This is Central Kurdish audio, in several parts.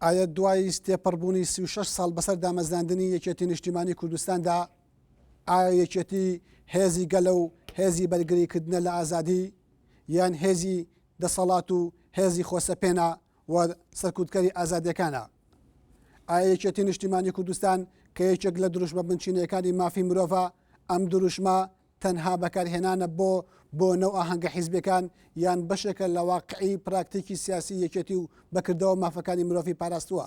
ئایا دوای تێپەڕبوونی سی و شەش ساڵ بەسەر دامەزراندنی یەکێتی نیشتیمانی کوردستاندا ئایا یەکێتی هێزی گەلە و هێزی بەرگریکردنە لە ئازادی یان هێزی دەسەڵات و هێزی خۆسەپێنە و سەرکوتکەری ئازادیەکانە ئایا یەکێتی نیشتیمانی کوردستان کە یەکێک لە دروشمە بنچینەکانی مافی مرۆڤە ئەم دروشمە تەنها بەکارهێنانە بۆ بۆنە و ئاهەنگە حیزبیەکان یان بەشێکە لە واقعی پراکتیکی سیاسی یەکێتی و بەکردەوە مافەکانی مرۆڤی پاراستووە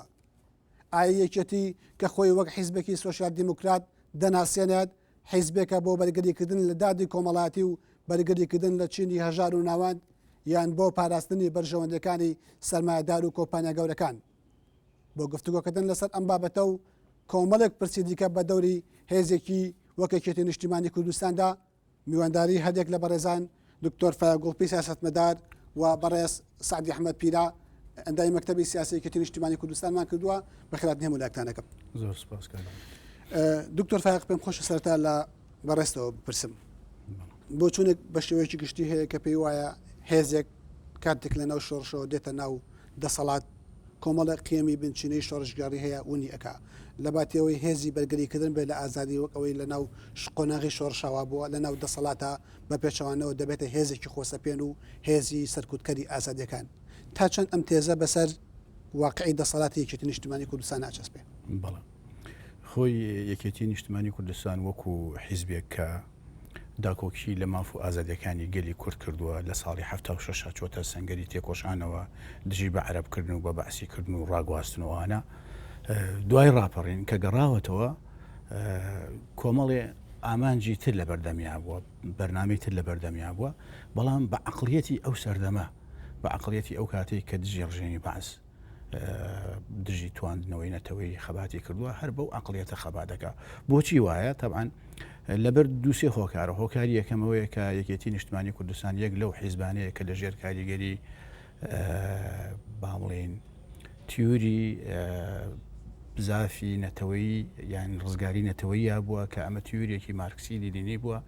ئایا یەکێتی کە خۆی وەک حیزبێکی سۆسیال دیموکرات دەناسێنێت حیزبێکە بۆ بەرگریکردن لە دادی کۆمەڵاتی و بەرگریکردن لە چینی هەژار و ناوەند یان بۆ پاراستنی بەرژەوەندەکانی سەرمایەدار و کۆمپانیا گەورەکان بۆ گفتوگۆکردن لەسەر ئەم بابەتە و کۆمەڵێک پرسی دیکە بە دەوری هێزێکی وەکێکێتی نیشتیمانی کوردستاندا میوانداری هەندێک لە بەڕێزان دکتۆر فایگوڵپی سیاستمەدار و بەڕێز سعدی ئەحمد پیرا ئەندای مەکتتەبی سیاسەتێکی نیشتیمانی کوردستانمان کردووە بەخرات نێمو لاکتانەکەم زۆر سپاس دکتۆر فاق پێم خۆش سەرتا لە بەڕێستەوە بپرسم بۆ چونێک بە شێوەیەکی گشتی هەیە کە پێی وایە هێزێک کاتێک لە ناو شۆڕشەوە دێتە ناو دەسەڵات کۆمەڵێک قیەمی بنچینەی شۆڕشگێڕی هەیە ونی ئەکا لەباتیەوەی هێزی بەرگری کردن بێت لە ئازادی وەک ئەوەی لەناو قۆناغی شۆڕشا وابووە لەناو دەسەڵاتا بەپێچەوانەوە دەبێتە هێزێکی خۆسەپێن و هێزی سەرکوتکەری ئازادیەکان تا چەند ئەم تێزە بەسەر واقعی دەسەڵاتی یەکێتی نیشتمانی کوردستان ناچەسپێ؟ بەڵێ خۆی یەکێتی نیشتمانی کوردستان وەکو حیزبێک کە. داکۆکی لە ماف و ئازادیەکانی گەلی کورد کردووە، لە ساڵی حەفتا و شەش چۆتە سەنگەری تێکۆشانەوە دژی بە عەرەب کردن و بە بەعسی کردن و ڕاگواستن و ئەوانە دوای ڕاپەڕین کە گەڕاوەتەوە کۆمەڵێ ئامانجی تر لە بەردەمیا بووە بەرنامەی تر لە بەردەمیا بووە بەڵام بە عقلیەتی ئەو سەردەمە بە عقلیەتی ئەو کاتێک کە دژی ڕژێمی بەعس دژی تواندنەوەی نەتەوەی خەباتی کردووە هەر بەو عقلەتە خەبا دەکا بۆچی وایە تەبان لەبەر دووسێ هۆکارە هۆکاری یەکەمەوەیە کە یەکێتی نیشتمانی کوردستان یەک لەو حیزبانەیە کە لە ژێر کاریگەری بامڵین تیوری بزافی نەتەوەی یان ڕزگاری نەتەوەیە بووە کە ئەمە تیورێکی مارکسی لینی بووە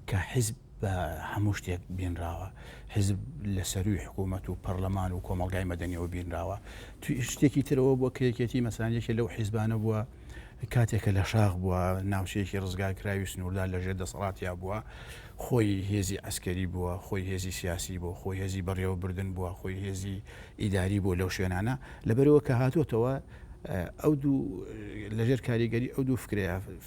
کە حیزب بە هەموو شتێک بینراوە حزب لە سەروی حکوومەت و پەرلەمان و کۆمەلگای مەدەنیەوە بینراوە توی شتێکی ترەوە بۆ کرێکێتی مەسانێکی لەو حیزبانە بووە کاتێکە لە شاخ بووە ناوچەیەکی ڕزگارکراوی سنووردا لەژێر دەسەڵاتیا بووە خۆی هێزی ئەسکەری بووە خۆی هێزی سیاسی بۆ خۆی هێزی بەڕێوەبردن بووە خۆی هێزی ئیداری بۆ لەو شوێنانە لەبەرەوە کە هاتووەتەوە ئەو دوو لەژێر کاریگەری ئەو دوو فکرەیە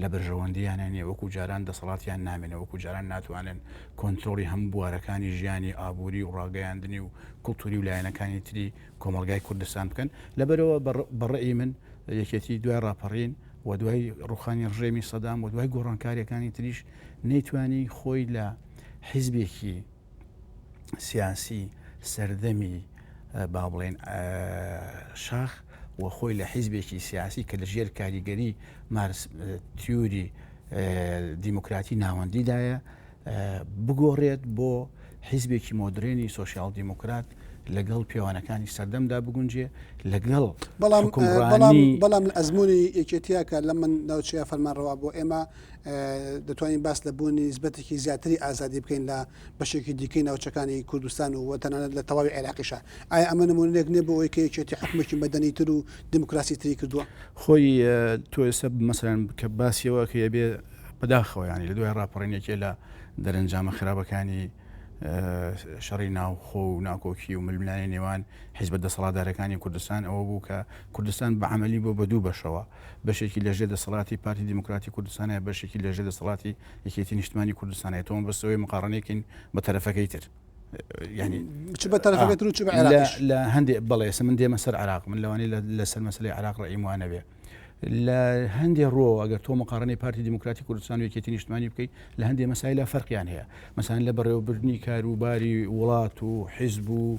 لە بەرژەوەندییانە نییە، وەکو جاران دەسەڵاتیان نامێنێ، وەکو جاران ناتوانن کۆنترۆڵی هەموو بوارەکانی ژیانی ئابووری و ڕاگەیاندنی و کولتووری و لایەنەکانی تری کۆمەڵگای کوردستان بکەن، لەبەرئەوە بە ڕەئی من یەکێتی دوای ڕاپەڕین و دوای ڕووخانی ڕژێمی سەدام و دوای گۆڕانکارییەکانی تریش نەیتوانی خۆی لە حیزبێکی سیاسی سەردەمی با بڵێن شاخ و خۆی لە حیزبێکی سیاسی کە لە ژێر کاریگەری مارس تیوری دیموکراتی ناوەندیدایە بگۆڕێت بۆ حیزبێکی مۆدرێنی سوسیال دیموکرات لەگەڵ پێوانەکانی سەردەمدا بگونجێ لەگەڵ بەڵام بەڵام ئەزمموی یەکێتیەکە لە من ناوچەیە فەرمانڕەوا بۆ ئێمە دەتوانین باس لە بوونی نسبەتێکی زیاتری ئازادی بکەین لە بەشێکی دیکەی ناوچەکانی کوردستان و تەنانەت لە تەواوی عێراقیشە ئایا ئەمە نمونونێک نێ بۆ ئەوی کە یەکێتی حکومێکی مەدەنی تر و دیموکراسی تری کردووە خۆی تۆ ئێستا مەسەرەن کە باسیەوە کە یەبێ بەداخەوە ینی لە دوای ڕاپەڕینێکێ لە دەرەنجامە خراپەکانی شەڕی ناوخۆ و ناکۆکی و ململانی نێوان حیزبە دەسەڵاتدارەکانی کوردستان ئەوە بوو کە کوردستان بە عملی بۆ بە دوو بەشەوە بەشێکی لەژێر دەسەڵاتی پارتی دیموکراتی کوردستانە بەشێکی لەژێر دەسەڵاتی یەکێتی نیشتمانی کوردستانە تۆم بەسەوەی مقاڕنێکین بە تەرەفەکەی تر ینی چ بە تەرەفەکەی تر و چ لە هەندێک بەڵێسە من دێمە سەر عراق من لەوانی لەسەر مەسلی عراق ڕئیموانە بێ لە هەندێک ڕۆ ئەگەر تۆ مقارنەی پارتی دیموکراتی کوردستان و یەکێتی نیشتمانی بکەیت لە هەندێک مەسایلە فەرقیان هەیە مەسان لە بەڕێوەبردننی کاروباری وڵات و حیزب و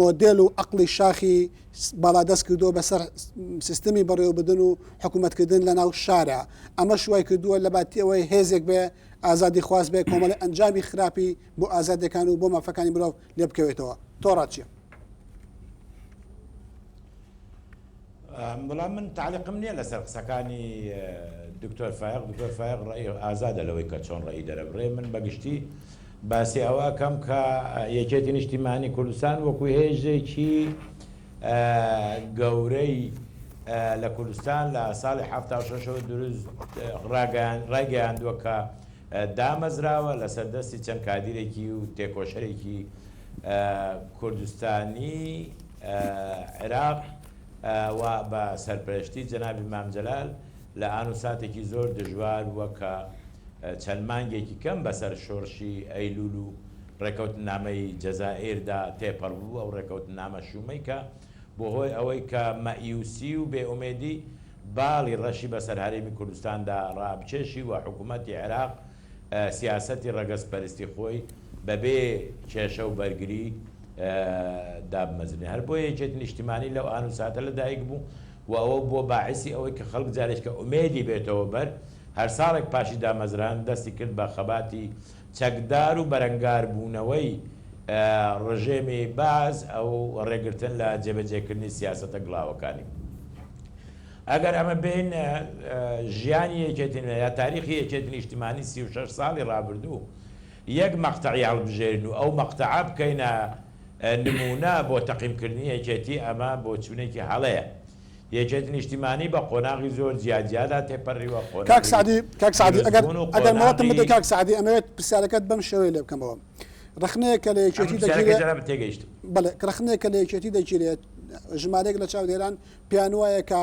مۆدێل و عەقڵی شاخی باڵادەست کردووە بەسەر سیستمی بەڕێوەبردن و حکوومەتکردن لەناو شارا. ئەمەش وای کردووە لەباتی ئەوەی هێزێک بێ ئازادیخواز بێ کۆمەڵێ ئەنجامی خراپی بۆ ئازادییەکان و بۆ مافەکانی مرۆڤ لێ بکەوێتەوە. تۆڕە چییە؟ بەڵام من تەعلیقم نیە لەسەر قسەکانی دکتۆر فایەق دکتۆر فایەق ڕەئی ئازادە لەوەی کە چۆن ڕەئی دەرەبڕێ من بەگشتی باسی ئەوە ئەکەم کە یەکێتی نیشتیمانی کوردستان وەکو هێژێکی گەورەی لە کوردستان لە ساڵی حفتا شەشەوە دروست ڕایگەیاندووە کە دامەزراوە لەسەر دەستی چەند کادیرێکی و تێکۆشەرێکی کوردستانی عێراق، و بە سەرپەرشتی جەنابی مام جەلال لە ئان و ساتێکی زۆر دژوار و کە چەند مانگێکی کەم بەسەر شۆرشی ئەیلول و ڕێکەوتننامەی جەزائیردا تێپەڕ بوو، ئەو ڕێکەوتننامە شوومەی کە بووە هۆی ئەوەی کە مەئیوسی و بێ ئومێدی باڵی ڕەشی بەسەر هەرێمی کوردستاندا ڕابکێشی و حکوومەتی عێراق سیاسەتی ڕەگەزپەرستی خۆی بەبێ کێشە و بەرگری دابمەزرێنێت. هەر بۆیە یەکێتی نیشتیمانی لەو ئان و ساتە لە دایک بوو و ئەوە بووە باعیسی ئەوەی کە خەڵک جارێکە ئومێدی بێتەوە بەر هەر ساڵێک پاشی دامەزراند دەستی کرد بە خەباتی چەکدار و بەرەنگاربوونەوەی ڕژێمی بەعس و ڕێگرتن لە جێبەجێکردنی سیاسەتە گڵاوەکانی. ئەگەر ئەمە بین ژیانی یەکێتی نیشتمانی یا تاریخی یەکێتی نیشتمانی سی و شەش ساڵی ڕابردوو یەک مەقتەعی هەڵبژێرین و ئەو مەقتەعە بکەینە نموونە بۆ تەقیمکردنی یەکێتی ئەمە بۆچوونێکی هەڵەیە. یەکێتی نیشتمانی بە قۆناغی زۆر جیا جیادا تێپەڕیوە، کاک قۆناغی سەعدی کاک سەعدی ئەگەر دروستبوون و ئەگەر مۆڵەتم بدەی قۆناغی. کاک سەعدی ئەمەوێت پرسیارەکەت بەم شێوەیە لێ بکەمەوە ڕەخنەیەک کە لە ئەمن یەکێتی پرسیارەکەی دەگیرێ جەنابت تێگەیشتم. بەڵێ ڕەخنەیەک کە لە یەکێتی دەگیرێت ژمارەیەک لە چاودێران پێیانوایە کە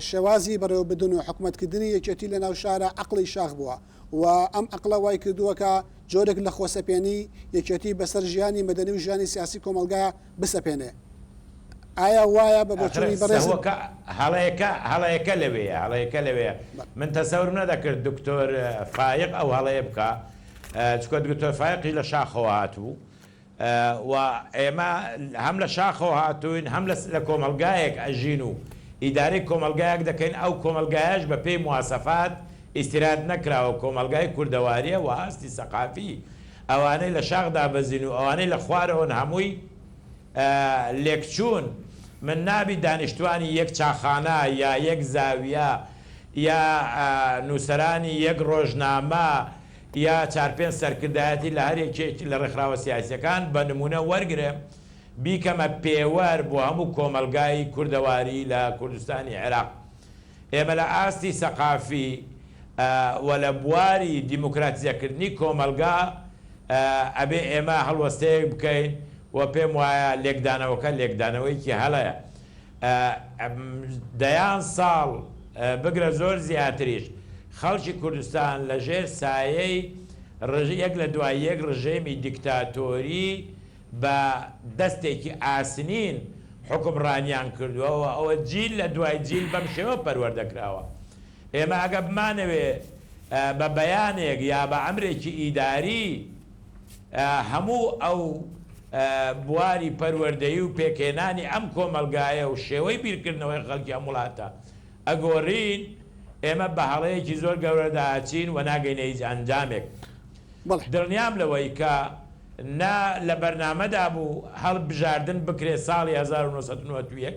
شێوازی بەڕێوەبردن و حکومەتکردنی یەکێتی لەناو شارا عەقڵی شاخ بووە و ئەم عەقڵە وایکردووە کە جۆرێک لە خۆسەپێنی یەکێتی بەسەر ژیانی مەدەنی و ژیانی سیاسی کۆمەڵگا بسەپێنێ. ئایا وایە بە بۆچوونی بەڕێزت؟ هەڵەیەکە لەوێیە، من تەسەورم نەدەکرد دکتۆر فایەق ئەو هەڵەیە بکا، چونکە دکتۆر فایەق هی لە شاخەوە هاتبوو، و ئێمە هەم لە شاخەوە هاتووین هەم لە کۆمەڵگایەک ئەژین و ئیدارەی کۆمەڵگایەک دەکەین ئەو کۆمەڵگایەش بە پێی مواسەفات ئیستیراد نەکراوە کۆمەڵگای کوردەواریە وە ئاستی سەقافی ئەوانەی لە شاخ دابەزین و ئەوانەی لە خوارەوەن هەمووی لێکچوون من نابی دانیشتوانی یەک چاخانە یا یەک زاویە یا نووسەرانی یەک ڕۆژنامە یا چار پێنج سەرکردایەتی لە هەر یەکێک لە ڕێکخراوە سیاسیەکان بە نمونە وەرگرێم بیکەمە پێوەر بۆ هەموو کۆمەڵگای کوردەواری لە کوردستانی عێراق ئێمە لە ئاستی سەقافی و لە بواری دیموکراتیزە کردنی کۆمەڵگا ئەبێ ئێمە هەڵوەستەیەک بکەین و پێم وایە لێکدانەوەکە لێکدانەوەیەکی هەڵەیە دەیان ساڵ بگرە زۆر زیاتریش خەڵکی کوردستان لە ژێر سایەی یەک لە دوای یەک ڕژێمی دیکتاتۆری بە دەستێکی ئاسنین حوکمڕانیان کردووە و ئەوە جیل لە دوای جیل بەم شێوە پەروەردە کراوە. ئێمە ئەگەر بمانەوێ بە بەیانێک یا بە ئەمرێکی ئیداری، هەموو ئەو بواری پەروەردەیی و پێکهێنانی ئەم کۆمەڵگایە و شێوەی بیرکردنەوەی خەڵکی ئەم وڵاتە ئەگۆرین، ئێمە بە هەڵەیەکی زۆر گەورەدا ئەچین و ناگەینە هیچ ئەنجامێک. دڵنیام لەوەی کە نە لە بەرنامەدا بوو هەڵبژاردن بکرێت ساڵی هەزار و نۆ سەد و نەوەد و یەک،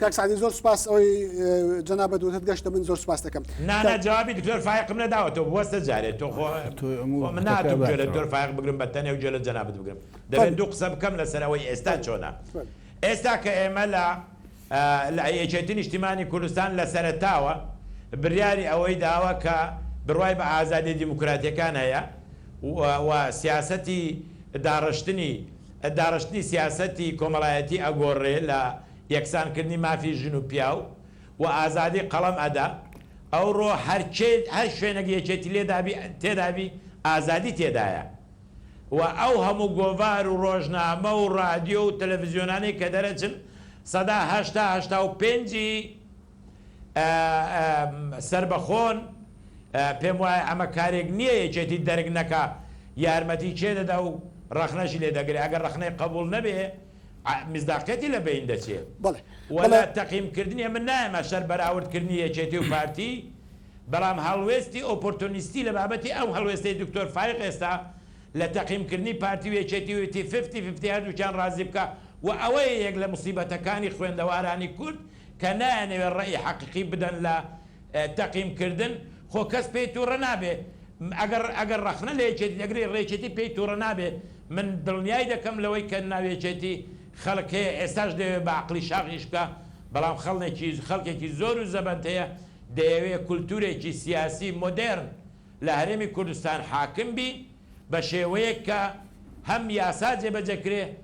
کاک سەعدی زۆر سوپاس ئەوەی جەنابت وتت گەشتە من زۆر سوپاست دەکەم. نا نا جوابی دکتۆر فایەقم نەداوەتەوە بوەستە جارێ تۆ خۆ خۆ من ناتوم گوێ لە دکتۆر فایەق بگرم بە تەنێ و گوێ لە جەنابت بگرم دەبێ دوو قسە بکەم لەسەر ئەوەی ئێستا چۆنە ئێستا کە ئێمە لە لە یەکێتی نیشتیمانی کوردستان لە سەرەتاوە بریاری ئەوەی داوە کە بروای بە ئازادیە دیموکراتیەکان هەیە و و سیاسەتی داڕشتنی داڕشتنی سیاسەتی کۆمەڵایەتی ئەگۆڕێ لە یەکسان کردنی مافی ژن و پیاو و ئازادی قەڵەم ئەدا ئەوڕۆ هەر کێ هەر شوێنەک یەکێتی لێدابی تێدابی ئازادی تێدایە و ئەو هەموو گۆڤار و ڕۆژنامە و ڕادیۆ و تەلەفزیۆنانەی کە دەرەچن سەدا هەشتا هەشتا و پێنجی سەربەخۆن پێم وایە ئەمە کارێک نیە یەکێتی دەرک نەکا یارمەتی کێ دەدا و ڕەخنەشی لێ دەگرێ ئەگەر ڕەخنەی قەبوڵ نەبێ میسداقیەتی لە بەین دەچێ بەڵێ و بەڵێ. لە تەقیم کردنی من نایەمە شەر بەراورد کردنی یەکێتی و پارتی بەڵام هەڵوێستی ئۆپۆرتۆنیستی لە بابەتی ئەو هەڵوێستەی دکتۆر فایق ئێستا لە تەقیم کردنی پارتی و یەکێتی وتی ففتی ففتی هەردووکیان ڕازی بکە و ئەوەیە یەک لە موسیبەتەکانی خوێندەوارانی کورد کە نایانەوێ ڕەئی حەقیقی بدەن لە تەقیم کردن خۆ کەس پێی توڕە نابێ ئەگەر ئەگەر ڕەخنە لە یەکێتی دەگرێ ڕێکێتی پێی توڕە نابێ من دڵنیای دەکەم لەوەی کە ناو یەکێتی خەڵک هەیە ئێستاش دەیەوێ بە عەقڵی شاخ ئیش بکا بەڵام خەڵێکی خەڵکێکی زۆر و زەبەند هەیە دەیەوێ کولتورێکی سیاسی مۆدێرن لە هەرێمی کوردستان حاکم بی بە شێوەیەک کە هەم یاسا جێبەجێ کرێ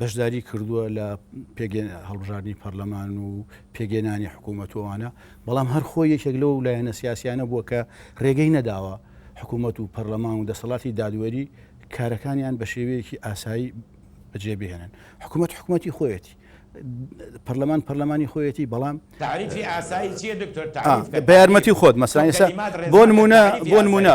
بەشداری کردووە لە پێگەێن هەڵبژاردننی پەرلەمان و پێگەێنانی حکوومەتوانە بەڵام هەر خۆی یەکێک لەو لایەنە سیاسیانە بووە کە ڕێگەی نەداوە حکوومەت و پەرلەمان و دەسەڵاتی دادوەری کارەکانیان بە شێوەیەکی ئاسایی بەجێ بهێنن حکوومەت حکوومەتی خۆیەتی پەرلەمان پەرلەمانی خۆیەتی بەڵام بە یارمەتی خۆت مەسرانیسا بۆ نمونە بۆ نمونە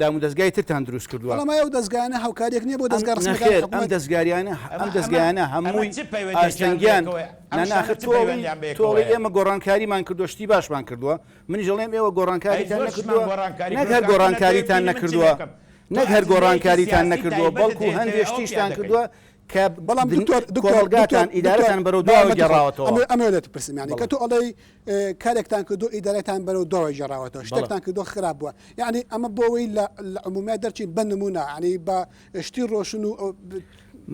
دامودەزگای ترتان دروست کردووە. بەڵام ئایا ئەو دەزگایانە هاوکارییەک نییە بۆ دەزگا ڕەسمییەکانی حکومەت؟ نەخێر ئەم دەزگاریانە ئەم دەزگایانە هەمووی ئاستەنگیان نا نا ئاخر تۆ ئەڵێی تۆ ئەڵێی ئێمە گۆڕانکاریمان کردووە شتی باشمان کردووە منیش ئەڵێم ئێوە گۆڕانکاریتان نەکردووە نەک هەر گۆڕانکاریتان نەکردووە نەک هەر گۆڕانکاریتان نەکردووە بەڵکو هەندێ شتیشتان کردووە کە بەڵام دکتۆر کۆمەڵگاتان ئیدارەتان بەرەو دواوە گێڕاوەتەوە ئەمە لێت پرسم یانی کە تۆ ئەڵێی کارێکتان کردو ئیدارەتان بەرەو دواوە گێڕاوەتەوە شتێکتان کردو خراپ بووە یعنی ئەمە بۆەوەی لە عمومیات دەرچی بە نمونە عنی بە شتی ڕۆشن و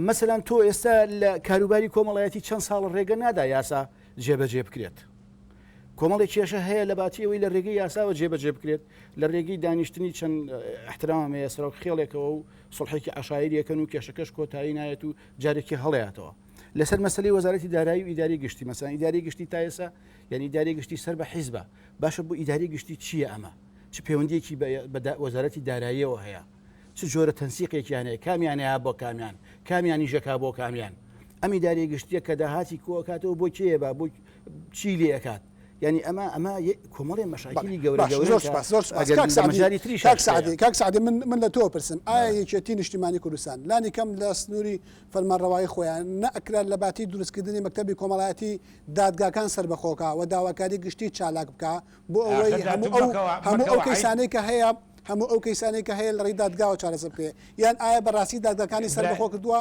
مەسەلاەن تۆ ئێستا لە کاروباری کۆمەڵایەتی چەند ساڵ ڕێگە نادا یاسا جێبەجێ بکرێت کۆمەڵی کێشە هەیە لە باتیەوەی لە ڕێگەی یاساوە جێبەجێ بکرێت لە ڕێگەی دانیشتنی چەند احترامە یاسرا و خێڵێکەوە و سوڵحێکی عەشایری ئەکەن و کێشەکەش کۆتایی نایەت و جارێکی هەڵەیاتەوە لەسەر مەسلی وەزارەتی دارایی و ئیداری گشتی مەسان ئیداری گشتی تایسا یعنی داری گشتی سەر بە حیزبە باشە بۆ ئیداری گشتی چییە ئەمە چ پەیوەندیەکی بە وەزارەتی داراییەوە هەیە چ جۆرە تەنسیقێکیان هەیە کامیانەیە بۆ کامیان کامیانی ژەکا بۆ کامیان ئەمی داری گشتیە کە داهاتی کۆکاتەوە بۆ کێە بۆ چی لێکات ینی ئەمە ئەمە کۆمەڵێ مەشاکیلی گەورە کاک سعدی من من لە تۆ پرسم ئایا یەکێتی نیشتیمانی کوردستان لانی کەم لە سنووری فەرمانڕەوایی خۆیان نەکرا لە باتی دروستکردنی مەکتتەبی کۆمەڵایەتی دادگاکان سربەخۆکە و داواکاری گشتی چالاک بکە بۆ ئەوەی هەموو ئەو کەسانی کە هەیە هەموو ئەو کەسانی کە هەیە لە ڕێی دادگاوە چارەسە بکرێ یان ئایا بەڕاستی دادگاکانی سەربەخۆ کردووە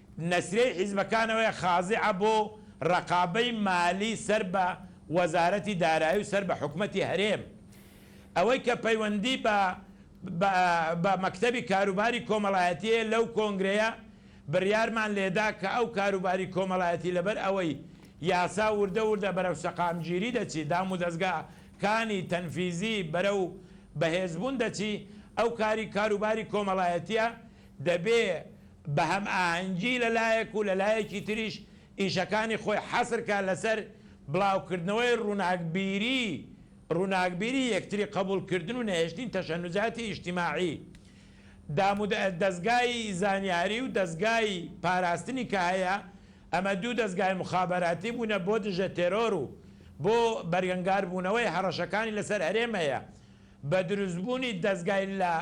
نەسریەی حیزبەکانەوەیە خازعە بۆ رەقابەی مالی سەر بە وەزارەتی دارایی و سەر بە حکومەتی هەرێم ئەوەی کە پەیوەندی بە بە بە مەکتەبی کاروباری کۆمەڵایەتی هەیە لەو کۆنگرەیە بریارمان لێدا کە ئەو کاروباری کۆمەڵایەتی لەبەر ئەوەی یاسا وردە وردە بەرەو سەقامگیری دەچی دام و دەزگا کانی تەنفیزی بەرەو بەهێزبوون دەچی ئەو کاری کاروباری کۆمەڵایەتیە دەبێ بە هەمئاهەنگی لە لایەک و لە لایەکی تریش ئیشەکانی خۆی حەسر کا لە سەر بڵاوکردنەوەی ڕووناکبیری ڕووناکبیری یەکتری قەبووڵ کردن و نەهێشتنی تەشەنوزاتی ئیجتیماعی دامو دەزگای زانیاری و دەزگای پاراستنی کە هەیە ئەمە دوو دەزگای موخابەراتی بوونە بۆ دژە تێرۆر و بۆ بەرگەنگار بوونەوەی هەڕەشەکانی لە سەر هەرێم هەیە بە دروستبوونی دەزگای لە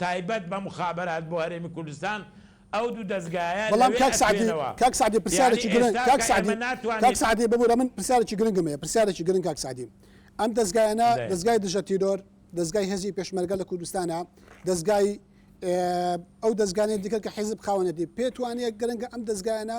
تایبەت بە موخابەرات بۆ هەرێمی کوردستان ئەو دوو دەزگایە بەڵام لەوێ کاک سەعدی ئەتوێنەوە کاک سەعدی پرسیارێکی یانی گرنگ ئێستا کاک کە سەعدی ئێمە کاک ناتوانین سەعدی ببورە من پرسیارێکی گرنگم هەیە پرسیارێکی گرنگ کاک سەعدی ئەم دەزگایانە دەێن دەزگای دژە تیرۆر دەزگای هێزی پێشمەرگە لە کوردستانە دەزگای ئێ ئەو دەزگانێ دیکە کە حیزب خاوەنێتی پێت وانیە گرنگە ئەم دەزگایانە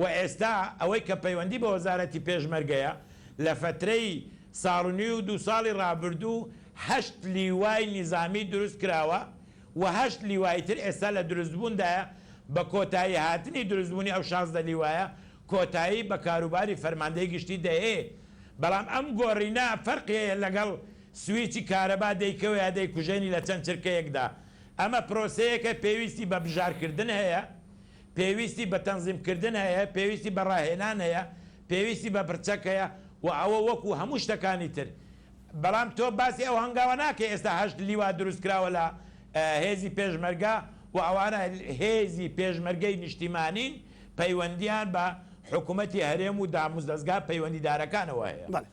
وە ئێستا ئەوەی کە پەیوەندی بە وەزارەتی پێشمەرگەیە لە فەترەی ساڵ و نیو و دوو ساڵی ڕابردوو هەشت لیوای نیزامی دروست کراوە و هەشت لیوای تر ئێستا لە دروست بووندایە بە کۆتایی هاتنی دروست بوونی ئەو شازدە لیوایە کۆتایی بە کاروباری فەرماندەی گشتی دەهێ بەڵام ئەم گۆڕینە فەرقی هەیە لەگەڵ سویچی کارەبا دەیکەوێ دەیکوژێنی لە چەند چرکەیەکدا ئەمە پرۆسەیەکە پێویستی بە بژار کردن هەیە پێویستی بە تەنزیمکردن هەیە، پێویستی بە ڕاهێنان هەیە، پێویستی بە پرچەک هەیە و ئەوە وەکو هەموو شتەکانی تر. بەڵام تۆ باسی ئەو هەنگاوە ناکەی ئێستا هەشت لیوا دروستکراوە لە هێزی پێشمەرگە و ئەوانە هێزی پێشمەرگەی نیشتیمانین، پەیوەندییان بە حکومەتی هەرێم و داموزدەزگا پەیوەندیدارەکانەوە هەیە.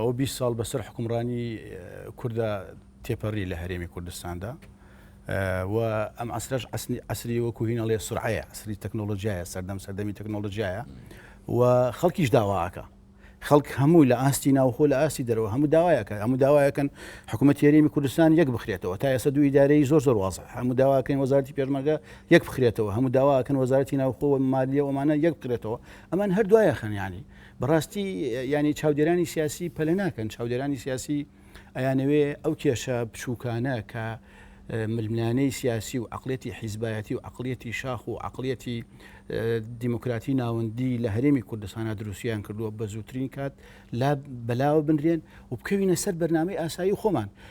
ئەو بیست ساڵ بەسەر حکومڕانی کوردا تێپەڕی لە هەرێمی کوردستاندا و ئەم عسرش عسری وەکو هینەڵێ سرعەیە عسری تەکنۆلۆژیایە سەردەم سەردەمی تەکنۆلۆژیایە و خەڵکیش داواکە خەڵک هەموو لە ئاستی ناوخۆ لە ئاستی دەرەوە هەموو داوایەکە هەموو داوایەکەن حکوومەت یاریمی کوردستان یەک بخرێتەوە تا ئێستا دوو ئیدارەی زۆر زۆر وازە هەموو داواکەین وەزارتی پێشمەگە یەک بخرێتەوە هەموو داواکەن وەزارتی ناوخۆ و مالیە ومانە یەک بکرێتەوە ئەمان هەر دوایە خەنیانی بەڕاستی یانی چاودێرانی سیاسی پەلە ناکەن چاودێرانی سیاسی ئەیانەوێ ئەو کێشە بچووکانە کە ململانەی سیاسی و عقلێتی حیزبایەتی و عقلەتی شاخ و عقلەتی دیموکراتی ناوەندی لە هەرێمی کوردستانە دروستیان کردووە بە زووترین کات لا بەلاوە بنرێن و بکەوینە سەر بەرنمەی ئاسایی خۆمان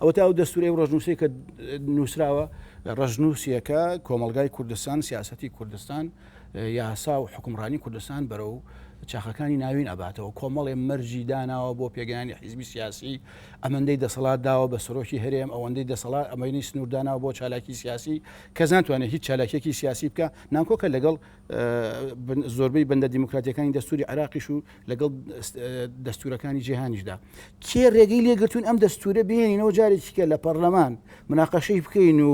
ئەوەتا ئەو دەستورەی و ڕەشنوسەی کە نوسراوە، ڕەشنوسیەکە کۆمەڵگای کوردستان، سیاسەتی کوردستان، یاسا و حوکمڕانی کوردستان بەرەو چاخەکانی ناوین ئەباتەوە، کۆمەڵێ مەرجی داناوە بۆ پێگەیانی حیزبی سیاسی، ئەمەندەی دەسەڵات داوە بە سەرۆکی هەرێم، ئەوەندەی دەسەڵات، ئەمەی سنورداناوە بۆ چالاکی سیاسی، کەس ناتوانێت هیچ چالاکیەکی سیاسی بکا، ناکۆکە لەگەڵ. زۆربەی بەندە دیموکراتیەکانی دەستوری عراقیش و لەگەڵ دەستورەکانی جیهانیشدا کێ ڕێگەی لێگرتون ئەم دەستورە بێنینەوە جارێکیکە لە پەرلەمان مناقەشەی بکەین و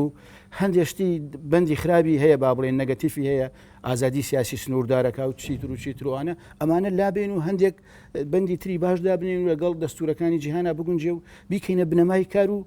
هەندێشتی بەندی خراپی هەیە با بڵێن نەگەتیفی هەیە ئازادی سیاسی سنووردارەکە و چیتر و چیتروانە ئەمانە لابێن و هەندێک بەندی تری باش دابنین و لەگەڵ دەستورەکانی جیهانە بگونجێ و بیکەینە بنەمای کار و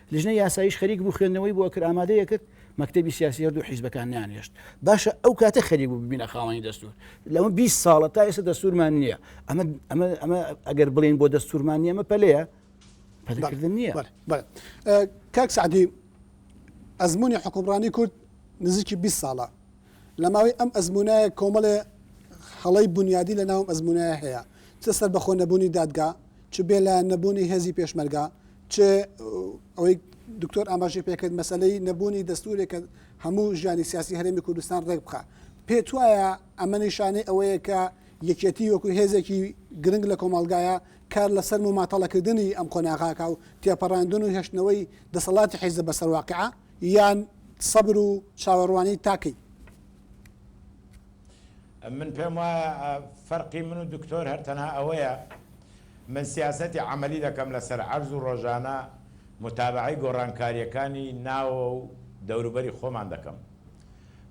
لیژنەی یاساییش خەریک بوو خوێندنەوەی بۆ ئەکرد، ئامادەی ئەکرد، مەکتەبی سیاسی هەردوو حیزبەکان نەیانهێشت باشە ئەو کاتە خەریک بوو ببینە خاوەنی دەستوور، لەمە بیست ساڵە تا ئێستا دەستوورمان نییە، ئەمە ئەگەر بڵێین بۆ دەستوورمان نییە ئەمە پەلەیە؟ پەلەکردن نییە. بەڵێ بەڵێ کاک سەعدی ئەزموونی حوکمڕانی کورد نزیکی بیست ساڵە، لە ماوەی ئەم ئەزموونایە کۆمەڵێ هەڵەی بونیادی لەناو ئەم ئەزموونایە هەیە، چ سەربەخۆ نەبوونی دادگا، چ بێلایەن نەبوونی هێزی پێشمەرگە، چ ئەوەی دکتۆر ئاماژەی پێکرد مەسەلەی نەبوونی دەستوورێک کە هەموو ژیانی سیاسی هەرێمی کوردستان ڕێک بخا. پێت وایە ئەمە نیشانەی ئەوەیە کە یەکێتی وەکو هێزێکی گرنگ لە کۆمەڵگایە کار لەسەر مماتەڵەکردنی ئەم قۆناغە ئەکا و تێپەڕاندن و هێشتنەوەی دەسەڵاتی حیزب بەسەر واقیع یان سەبر و چاوەڕوانی تاکەی من پێم وایە فەرقی من و دکتۆر هەر تەنها ئەوەیە من سیاسەتی عملی دەکەم لەسەر عەرز و ڕۆژانە متابعەی گۆڕانکاریەکانی ناوە و دەوروبەری خۆمان دەکەم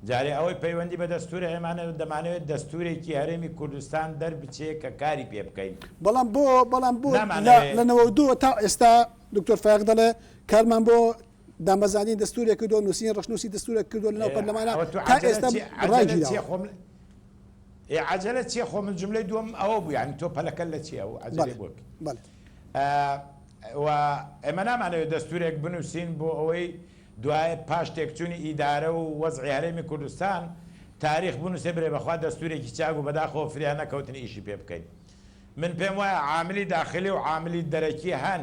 جارێ ئەوەی پەیوەندی بە دەستورە ئێمانە دەمانەوێت دەستورێکی هەرێمی کوردستان دەربچێ کە کاری پێ بکەین بەڵام بۆ بەڵام بۆ لە نەوەدووە تا ئێستا دکتۆر فایەق دەڵێ کارمان بۆ دامەزراندنی دەستورێک کردوە نوسینی ڕەشنوسی دەستورێک کردوە لەناو پەرلەمانا تا ئێستا ڕای گیراوە. ئێ عەجەلە چیە خۆ من جملەی دوم ئەوە بوو یعنی تۆ پەلەکە لە چیە و عەجەلێ بۆ و ئێمە نامانەوێت دەستورێک بنووسین بۆ ئەوەی دوای پاش تێکچوونی ئیدارە و وەزعی هەرێمی کوردستان تاریخ بنووسێ برێ بەخوا دەستورێکی چاک و بەداخەوە فریا نەکەوتن ئیشی پێ بکەین من پێم وایە عاملی داخلی و عاملی دەرەکی هەن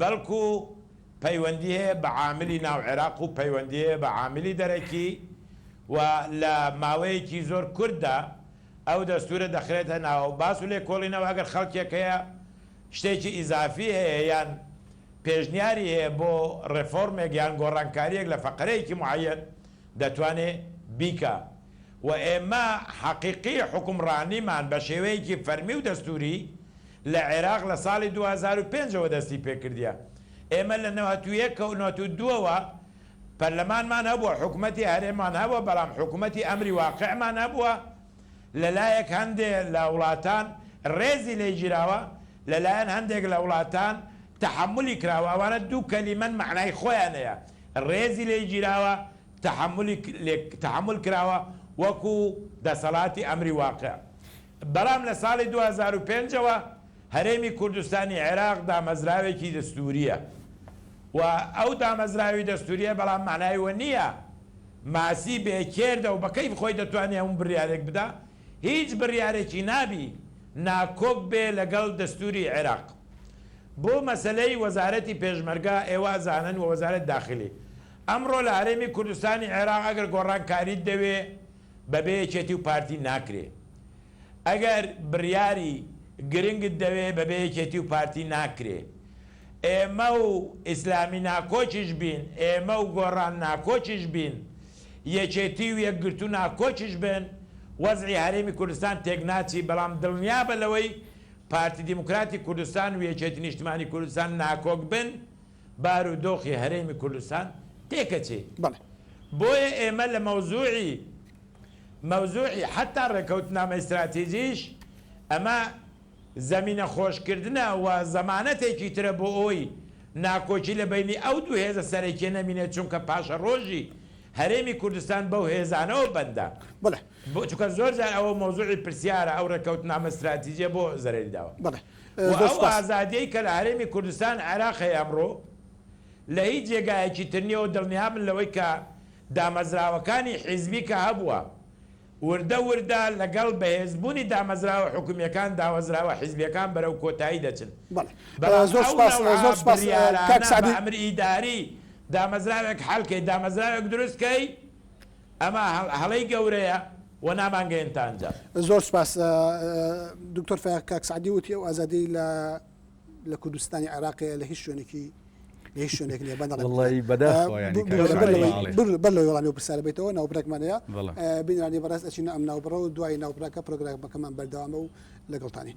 بەڵکو پەیوەندی هەیە بە عاملی ناو عێراق و پەیوەندی هەیە بە عاملی دەرەکی و لە ماوەیەکی زۆر کورتدا ئەو دەستورە دەخرێتە ناو باس و لێکۆڵینەوە ئەگەر خەڵکێک هەیە شتێکی ئیزافی هەیە یان پێشنیاری هەیە بۆ ڕێفۆرمێک یان گۆڕانکاریەک لە فەقرەیەکی معەیەن دەتوانێ بیکا و ئێمە حەقیقی حوکمڕانیمان بە شێوەیەکی فەرمی و دەستوری لە عێراق لە ساڵی دوو هەزار و پێنج ەوە دەستی پێکردیە ئێمە لە نەوەت و یەک و نەوەت و دوو ەوە پەرلەمانمان هەبووە حکومەتی هەرێممان هەبووە بەڵام حکومەتی ئەمری واقعمان هەبووە لەلایەک هەندێ لە وڵاتان ڕێزی لێ گیراوە لەلایەن هەندێک لە وڵاتان تەحەمولی کراوە ئەوانە دوو کەلیمەن مەعنای خۆیان هەیە ڕێزی لێ گیراوە تەحەمولی تەحەمول کراوە وەکو دەسەڵاتی ئەمری واقع بەڵام لە ساڵی دوو هەزار و پێنج ەوە هەرێمی کوردستانی عێراق دامەزراوێکی دەستوورییە و ئەو دامەزراوی دەستوورییە بەڵام مەعنای وە نییە ماسی بێ کێردە و بە کەیف خۆی دەتوانێ هەموو بڕیارێک بدا هیچ بڕیارێکی نابی ناکۆک بێ لەگەڵ دەستووری عێراق بۆ مەسەلەی وەزارەتی پێشمەرگە ئێوە ئەزانن و وەزارەت داخلی ئەمڕۆ لە هەرێمی کوردستانی عێراق ئەگەر گۆڕانکاریت دەوێ بەبێ یەکێتی و پارتی ناکرێ ئەگەر بریاری گرنگت دەوێ بەبێ یەکێتی و پارتی ناکرێ ئێمە و ئیسلامی ناکۆکیش بین ئێمە و گۆڕان ناکۆکیش بین یەکێتی و یەکگرتوو ناکۆکیش بن وەزعی هەرێمی کوردستان تێک ناچی بەڵام دڵنیابە لەوەی پارتی دیموکراتی کوردستان و یەکێتی نیشتمانی کوردستان ناکۆک بن بار و دۆخی هەرێمی کوردستان تێکەچێت. بەڵێ. بۆیە ئێمە لە مەوزوعی مەوزوعی حەتا ڕێکەوتنامەی ستراتیجیش ئەمە زەمینە خۆش کردنە و زەمانەتێکی ترە بۆ ئەوەی ناکۆکی لە بەینی ئەو دوو هێزە سەرەکیە نەمینێت چونکە پاشەڕۆژی هەرێمی کوردستان بەو هێزانەوە بەندە. بەڵێ. چونکە زۆر جار ئەوە مەوزوعی پرسیارە ئەو ڕێکەوتنامە ستراتیجیە بۆ زەرەری داوە. بەڵێ. و ئەو ئازادیەی کە لە هەرێمی کوردستان عێراق هەیە ئەمڕۆ لە هیچ جێگایەکی تر نیە و دڵنیابن لەوەی کە دامەزراوەکانی حیزبی کە هەبووە وردە وردە لەگەڵ بەهێزبوونی دامەزراوە حکومیەکان داوەزراوە حیزبیەکان بەرەو کۆتایی دەچن بەڵام ئەو نەوعە بڕیارانە بە ئەمر ئیداری دامەزراوێک حەل کەی دامەزراوێک دروست کەی ئەمە هەڵەی گەورەیە و نامانگەێن تا ئەنجام. زۆر سپاس دکتۆر فەیاق کاک سعدی وتی ئەو ئازادی لە لە کوردستانی عێراقەیە لە هیچ شوێنێکی لە هیچ شوێنێک نیە بەدڵ بەر لە وڵامی پرسیارە بێتەوە ناوبرەکمانەیە بینرانی بەڕاست ئەچینە ئەم ناوبڕە و دوای ناوبراکە پرۆگرامەکەمان بەردەوامە و لەگەڵتانین.